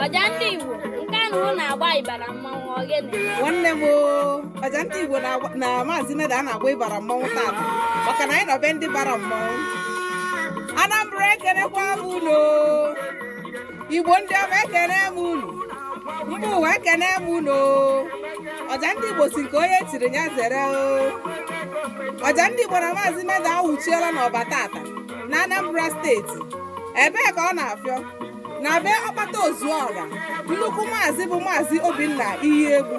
ọja ndị igbo nke ahụ na-agba ịbara mmanwụ ogene nwanne m oo, ọja ndị igbo na-agba- na maazị meda na-agba ịbara mmanwụ tata maka na anyị nọ be ndị bara mmanwụ anambra ekenekwa m unu igbo ndị ọma ekene m unu mba ụwa ekene m unu ọja ndị igbo sị nke onye tiri ya zere ọja ndị igbo na maazị meda awụchiela n'ọba tata na anambra steeti ebee ka ọ na-afịọ na be ọkpataozuọra nnukwu maazị bụ maazị obinna iyiegbu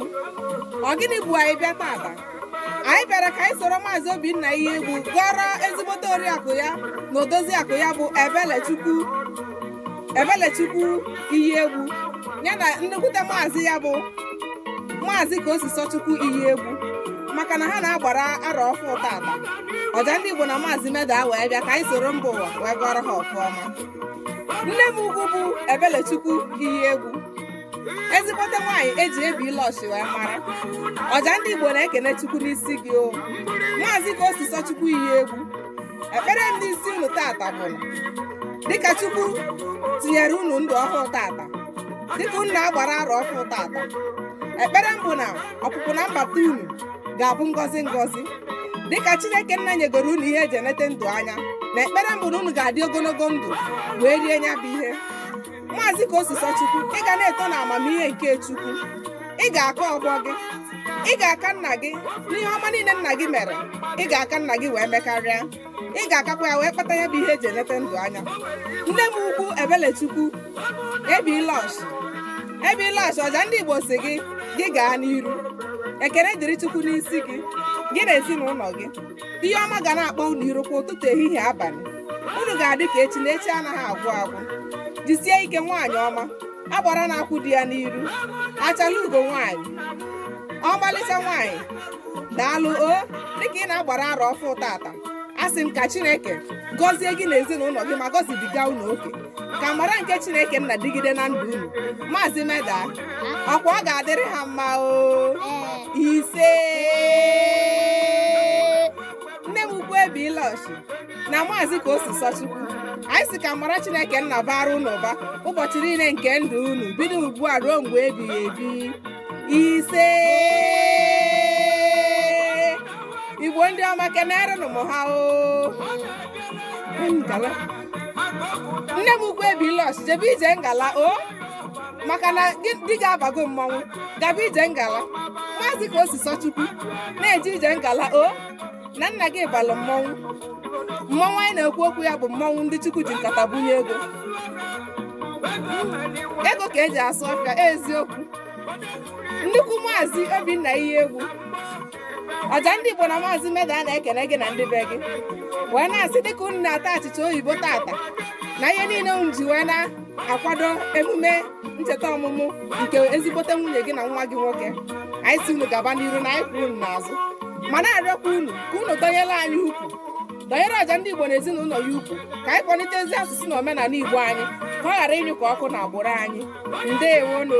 ọ gịnị bụ anyị bịa tata anyị bịara ka anyị soro maazị obinna iyiegbu gọrọ ezigbote oriakụ ya na odozi akụ ya bụ ebelechukwu iyiegbu ya na nnekwute maazị ya bụ maazị kaosisọchukwu iyiegbu maka na ha na-agbara arọ ọfụ tata ọja ndị igbo na maazị meda wee bịa ka anyị soro mba ụwa wee gọrọ ha ọfụma nne m ukwu bụ ebelechukwu iyiegbu ezigbote nwaanyị eji eby lush wee mara ọja ndị igbo na-ekene chukwu n'isi gị o maazị kaosisọchukwu iyiegbu ekpere m n'isi unu tata bụ dịka chukwu tinyere unu ndụ ọhụụ tata dịka unu na-agbara arọ ọhụụ tata ekpere m bụ na ọpụpụ na mbata unu ga-abụ ngọzi ngọzi dịka chineke nna nyegoro unu ihe eji enete ndụ anya na ekpere m bụ na unu ga-adị ogologo ndụ wee rie nya bụ ihe maazị kaosisọchukwu ị ga na-eto na amamihe nke chukwu ị ga-aka ọgbọ gị ị ga-aka nna gị n'ihe ọma niile nna gị mere ị ga-aka nna gị wee mekarịa ị ga-akakwa ya wee kpata ya bụ ihe eji enete ndụ anya nne m ukwu ebelechukwu eby lush eby lush ọja ndị igbo sị gị gị gaa n'iru ekele dịrị chukwu n'isi gị gị na ezinụlọ gị ihe ọma ga na-akpọ unu iru kwa ụtụtụ ehihie abalị unu ga-adị ka echi na echi anaghị agwụ agwụ jisie ike nwaanyị ọma agbara na-akwụ di ya n'iru achala ugo nwaanyị ọmalịcha nwaanyị daalụ o dịka ị na-agbara arọ ọfụ tata a sị m ka chineke gọzie gị na ezinụlọ gị ma gọzibiga unu oke ka amara nke chineke nna dịgide na ndụ unu maazị meda ọkwa ọ ga-adịrị ha mma o ise nne m ukwu eby lush na maazị kaosisọchukwu anyị sị ka amara chineke nna baara unu ụba ụbọchị niile nke ndụ unu bido ugbu a ruo mgbe ebighị ebi ise igbo ndị ọma kenerenụ m ha o nne m ukwu eby lush jebe ije ngala o maka na di gị abago mmọnwụ gaba ije ngala maazị kosisọchukwu na-eje ije ngala o na nna gị balụ mmọnwụ mmọnwụ anyị na-ekwu okwu ya bụ mmọnwụ ndị chukwu ji nkata bunye ego ego ka eji asụ ọfịa eziokwu nnukwu maazị obinna iyiegbu ọja ndị igbo na maazị meda na-ekene gị na ndị be gị wee na-asị dịka unu na-ata achịcha oyibo taata na ihe niile unu ji wee na-akwado emume ncheta ọmụmụ nke ezigbote nwunye gị na nwa gị nwoke anyị si unu gaba n'iru na anyị kwụ unu n'azụ ma na-arịọkwa unu ka unu dọnyere anyị ukwu dọnyere ọja ndị igbo na ezinụlọ ya ukwu ka anyị kwalite ezi asụsụ na omenala igbo anyị ka ọ ghara ịnyụ ka ọkụ na agbụrụ anyị ndewonụ